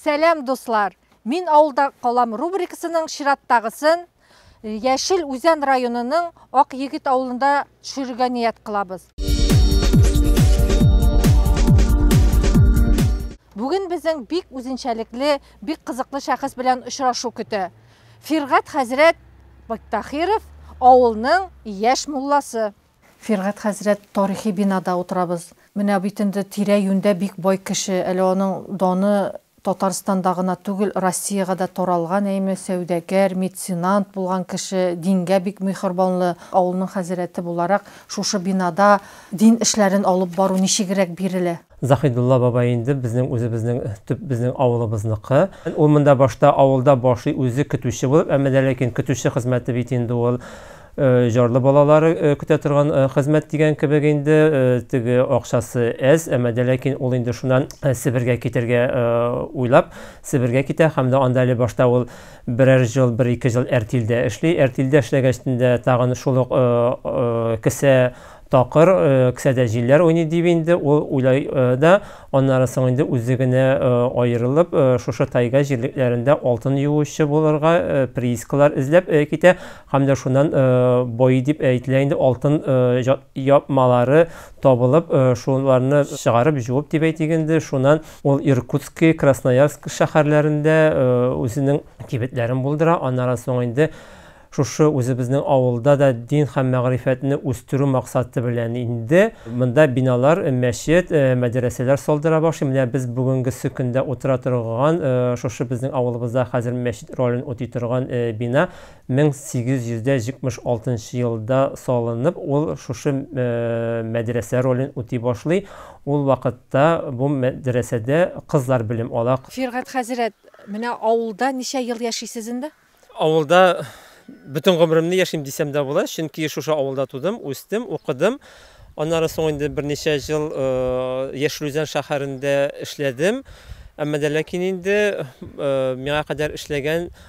Сәлам дуслар! Мин авылда калам рубрикасының чираттагысын Яшел Үзән районының Ак Егет авылында төшерергә ният кылабыз. Бүген безнең бик үзенчәлекле, бик кызыклы шәхес белән очрашу көтә. Фиргать хәзрәт Бактахиров, авылның яшь мулласы. Фиргать хәзрәт тарихи бинада утырабыз. Менә бит инде тирә-юньдә бик бай кеше, әле аның даны Татарстанда гына түгел, Россиягә дә таралган әйме, сәүдәгәр, меценант булган кеше, дингә бик миһербанлы. Авылның хәзрәте буларак, шушы бинада дин эшләрен алып бару ничегрәк бирелә? Заһидулла бабай инде безнең үзебезнең төп безнең авылыбызныкы. Ул монда башта авылда башлый, үзе көтүче булып, әмма дә ләкин көтүче хезмәте бит инде ул. Э, җарлы балалары э, көтә торган э, хезмәт дигән кебек инде теге акчасы әз әмма дә ләкин ул инде шуннан себергә китәргә уйлап себергә китә һәм дә анда әле башта ул берәр жыл бер ике жыл әртилдә эшли әртилдә эшләгәч тә тагын шул ук кесә такыр э, кесәдә җилләр уйный дип инде ул уйлай э, да аннары соң инде үзе генә э, аерылып шушы тайга җирлекләрендә алтын юучы булырга приискалар эзләп китә Һәм дә шуннан бои дип әйтелә инде, алтын япмалары табылып, шуларны чыгарып, җуып дип әйтик инде, шуннан ул Иркутский, Красноярск шәһәрләрендә үзенең кибетләрен булдыра, аннары соң инде шушы үзебезнең авылда да дин һәм мәгърифәтне үстерү максаты белән инде монда биналар, мәчет, мәдрәсәләр салдыра башлый. Менә без бүгенгесе көндә утыра торган шушы безнең авылыбызда хәзер мәчет ролен үти торган бина 1876 нчы елда салынып, ул шушы мәдрәсә ролен үти башлый. Ул вакытта бу мәдрәсәдә кызлар белем ала. Фиргать хәзрәт, менә авылда ничә ел яшисез инде? Авылда бөтен гомеремне яшим дисәм дә була, чөнки шушы авылда тудым, үстем, укыдым. Аннары соң инде берничә ел Яшел Үзән шәһәрендә эшләдем. Әмма дә ләкин инде миңа кадәр эшләгән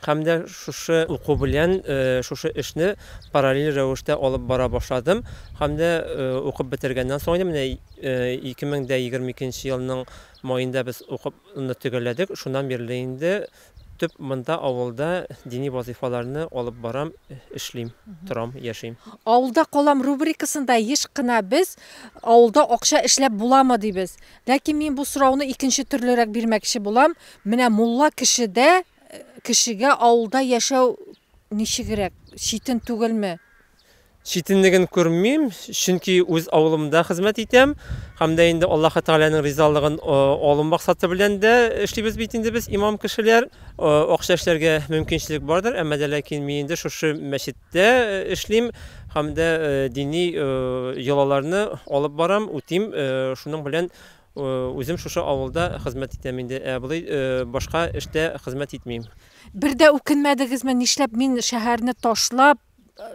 Һәм дә шушы уку белән шушы эшне параллель рәвештә алып бара башладым. Һәм дә укып бетергәннән соң, менә 2022 елның маенда без укуны төгәлләдек. Шуннан бирле инде төп монда, авылда дини вазыйфаларны алып барам, эшлим, торам, яшим. Авылда калам рубрикасында еш кына без Авылда акча эшләп буламы? дибез. Ләкин мин бу сорауны икенче төрлерәк бирмәкче булам, менә мулла кешедә Кешегә авылда яшәү ничегрәк, читен түгелме? Читенлеген күрмим, чөнки үз авылымда хезмәт итәм һәм дә инде Аллаһы Тәгаләнең ризалыгын алу максаты белән дә эшлибез бит инде без, имам кешеләр. Акча эшләргә мөмкинчелек бардыр, әмма дә ләкин мин инде шушы мәчеттә эшлим һәм дә дини йолаларны алып барам, үтим, шуның белән Үзем шушы авылда хезмәт итәм инде, ә болай башка эштә хезмәт итмим. Бер дә үкенмәдегезме, нишләп мин шәһәрне ташлап,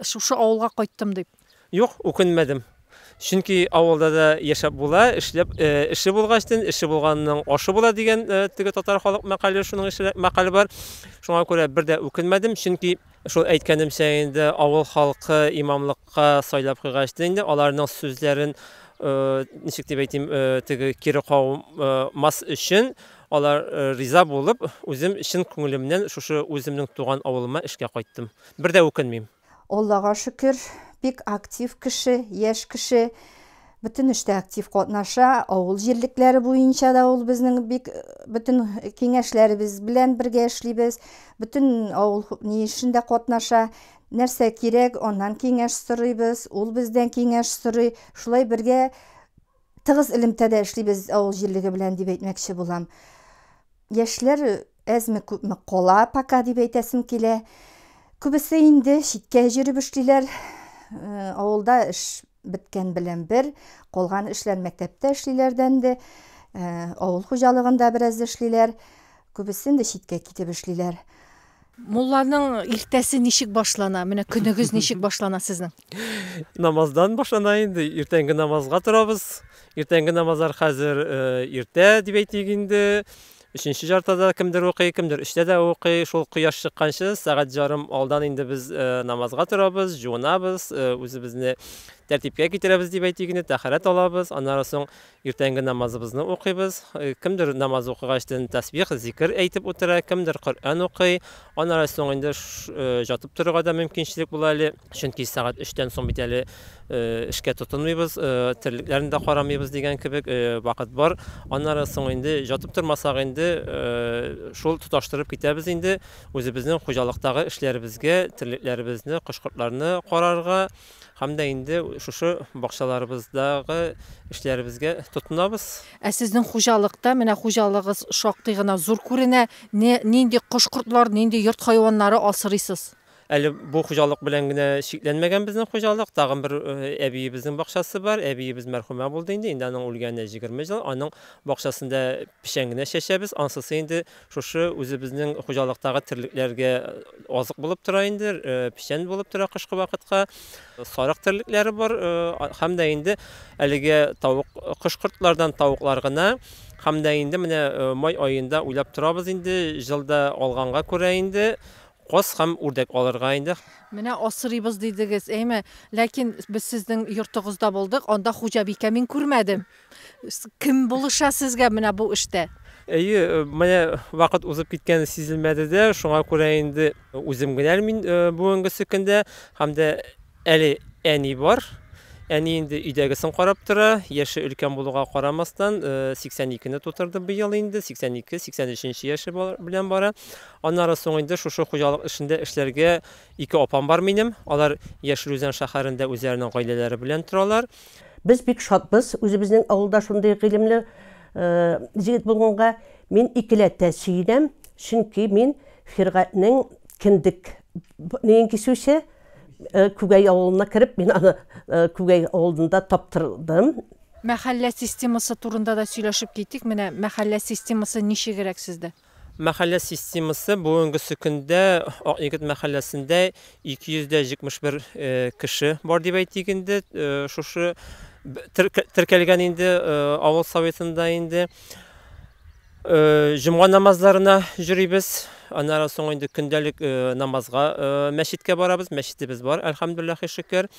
шушы авылга кайттым дип? Юк, үкенмәдем. Чөнки авылда да яшәп була, эшләп, эше булгачтын, эше булганның ашы була дигән теге татар халык мәкале, шуның ише мәкале бар. Шуңа күрә бер дә үкенмәдем, чөнки Шул әйткәнемчә инде, авыл халкы имамлыкка сайлап куйгач та инде, аларның сүзләрен, ничек дип әйтим, теге кире кагмас өчен, алар риза булып, үзем чын күңелемнән шушы үземнең туган авылыма эшкә кайттым. Бер дә үкенмим. Аллага шөкер, бик актив кеше, яшь кеше. Бөтен эштә актив катнаша, авыл җирлекләре буенча да ул безнең бик бөтен киңәшләребез белән бергә эшлибез. Бөтен авыл ни эшендә катнаша. Нәрсә кирәк, аннан киңәш сорыйбыз, ул бездән киңәш сорый. Шулай бергә тыгыз элемтәдә эшлибез авыл җирлеге белән дип әйтмәкче булам. Яшьләр Әзме-күпме кала пока дип әйтәсем килә. Күбесе инде читкә җөреп эшлиләр. Э, авылда эш беткән белән бер, калган эшләр мәктәптә эшлиләрдән дә, э, авыл хуҗалыгында бераз эшлиләр. Күбесе инде читкә китеп эшлиләр. Мулланың иртәсе ничек башлана? Менә көнегез ничек башлана сезнең? Намаздан башлана инде. Иртәнге намазга торабыз. Иртәнге намазлар хәзер иртә дип әйтик инде. Өченче җартыда да кемдер укый, кемдер өчтә дә укый. Шул кояш чыкканчы, сәгать җарым алдан инде без намазга торабыз, җуынабыз, үзебезне тәртипкә китерәбез дип әйтик инде, тәһарәт алабыз. Аннары соң иртәнге намазыбызны укыйбыз. Кемдер намаз укыгачтын тәсбих, зикер әйтеп утыра, кемдер Коръән укый. Аннары соң инде жатып торырга да мөмкинчелек була әле, чөнки сәгать өчтән соң бит әле эшкә тотынмыйбыз, терлекләрне дә карамыйбыз дигән кебек вакыт бар. Аннары соң инде жатып тормасак инде, шул тоташтырып китәбез инде үзебезнең хуҗалыктагы эшләребезгә, терлекләребезне, кош-кортларны карарга. Һәм дә инде шушы бакчаларыбыздагы эшләребезгә тотынабыз. Ә сезнең хуҗалыкта, менә хуҗалыгыз шактый гына зур күренә, не, нинди кош-кортлар, нинди йорт хайваннары асырыйсыз? Әле бу хуҗалык белән генә чикләнмәгән безнең хуҗалык. Тагын бер әбиебезнең бакчасы бар. Әбиебез мәрхүмә булды инде, инде аның үлгәненә җигерме ел. Аның бакчасында Печән генә чәчәбез, ансысы инде шушы үзебезнең хуҗалыктагы терлекләргә азык булып тора инде, печән булып тора кышкы вакытка. Сарык терлекләре бар һәм дә инде әлеге тавык кош-кортлардан тавыклар гына һәм дә инде менә май аенда уйлап торабыз инде, җылда алганга күрә инде каз һәм үрдәк алырга инде. Менә асрыйбыз дидегез, әйме? Ләкин без сезнең йортыгызда булдык, анда хуҗабикә мин күрмәдем. Кем булыша сезгә менә бу эштә? Әйе, э, менә вакыт узып киткәне сизелмәде дә, шуңа күрә инде үзем генә мин э, бүгенгесе көндә һәм дә әле әни бар. Әни инде өйдәгесен карап тора, яше өлкән булуга карамастан, 82-не э, тутырды быел инде, 82-83 яше белән бара. Аннары соң инде шушы хуҗалык эшендә эшләргә ике апам бар минем. Алар Яшел Үзән шәһәрендә үзләренең гаиләләре белән торалар. Без бик шатбыз үзебезнең авылда шундый гыйлемле җегет булганга. Мин икеләтә сөенәм, чөнки мин Фиргатьнең кендек ниен кисүче Күгәй авылына кереп, мин аны Күгәй авылында таптырдым. Мәхәллә системасы турында да сөйләшеп китик. Менә мәхәллә системасы ничегрәк сездә? Мәхәллә системасы бүгенгесе көндә Ак егет мәхәлләсендә 271 кеше бар дип әйтик инде, шушы теркәлгән инде авыл Советында инде. Җомга намазларына җөрибез, аннары соң инде көндәлек намазга мәчеткә барабыз, мәчетебез бар, әлхәмдүлләхи шөкер.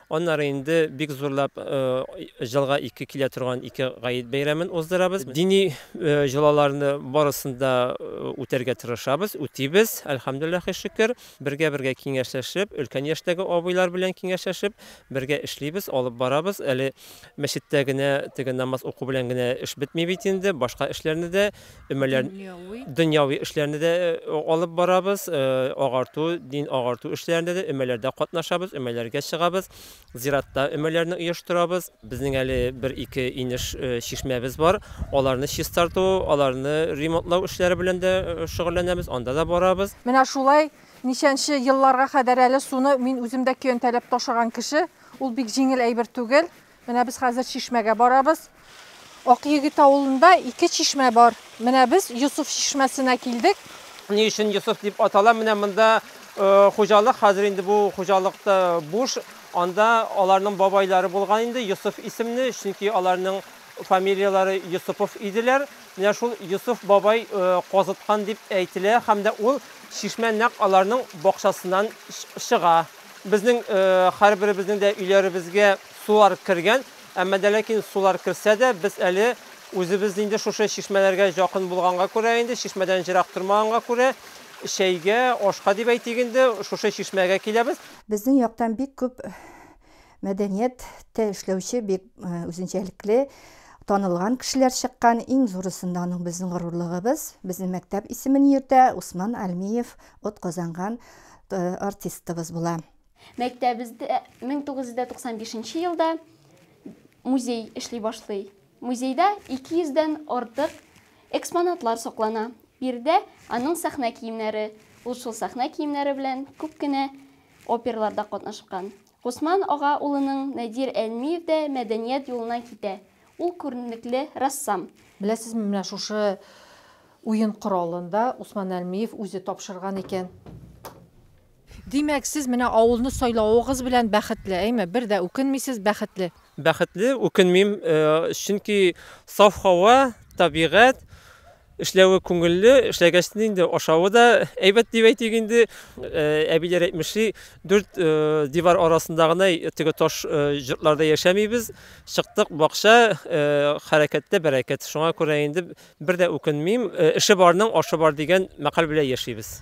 Аннары инде бик зурлап елга ике килә торган ике гает бәйрәмен уздырабыз. Дини җолаларны барысын да үтәргә тырышабыз, үтибез, әлхәмдүлләхи шөкер. Бергә-бергә киңәшләшеп, өлкән яшьтәге абыйлар белән киңәшләшеп, бергә эшлибез, алып барабыз. Әле мәчеттә генә теге намаз уку белән генә эш бетми бит инде, башка эшләрне дә, өмәләр дөньяви эшләрне дә алып барабыз, агарту, дин агарту эшләрендә дә өмәләрдә катнашабыз, өмәләргә чыгабыз, зиратта өмәләрне оештырабыз. Безнең әле бер-ике инеш чишмәбез бар, аларны чистарту, аларны ремонтлау эшләре белән дә шөгыльләнәбез, анда да барабыз. Менә шулай ничәнче елларга кадәр әле суны мин үзем дә көянтәләп ташыган кеше, ул бик җиңел әйбер түгел. Менә без хәзер чишмәгә барабыз. Акъегет авылында ике чишмә бар. Менә без Йосыф чишмәсенә килдек. Ни өчен Йосыф дип атала? Менә монда хуҗалык, хәзер инде бу хуҗалык та буш. Анда аларның бабайлары булган инде Йосыф исемле, чөнки аларның фамилияләре Йосыпов иделәр. Менә шул Йосыф бабай казыткан дип әйтелә һәм дә ул чишмә нәкъ аларның бакчасыннан чыга. Безнең һәрберебезнең дә өйләребезгә сулар кергән, әмма дә ләкин сулар керсә дә, без әле үзебез инде шушы чишмәләргә якын булганга күрә инде, чишмәдән җырак тормаганга күрә, чәйгә, ашка дип әйтик инде, шушы чишмәгә киләбез. Безнең яктан бик күп Мәдәният тә эшләүче бик үзенчәлекле танылган кешеләр чыккан. Иң зурысында аның безнең горурлыгыбыз, безнең мәктәп исемен йөртә, Усман Альмиев от казанган артистыбыз була. Мәктәбездә 1995 нче елда музей эшли башлый. Музейда 200 дән артык экспонатлар саклана. Биредә аның сәхнә киемнәре, ул шул сәхнә киемнәре белән күп кенә оперларда катнашкан. Госман ага улының Надир Әлмиев дә мәдәният юлына китә. Ул күренекле рәссам. Беләсезме, менә шушы уен коралын да Усман Әлмиев үзе тапшырган икән. Димәк, сез менә авылны сайлавыгыз белән бәхетле, әйме? Бер дә үкенмисез, бәхетле. Бәхетле, үкенмим, чөнки саф һава, табигать, эшләве күңелле, эшләгәч тә инде ашавы да әйбәт дип әйтик инде. Әбиләр әйтмешли, дүрт дивар арасында гына теге таш җортларда яшәмибез. Чыктык бакча, хәрәкәттә бәрәкәт. Шуңа күрә инде бер дә үкенмим. Эше барның ашы бар дигән мәкаль белән яшибез.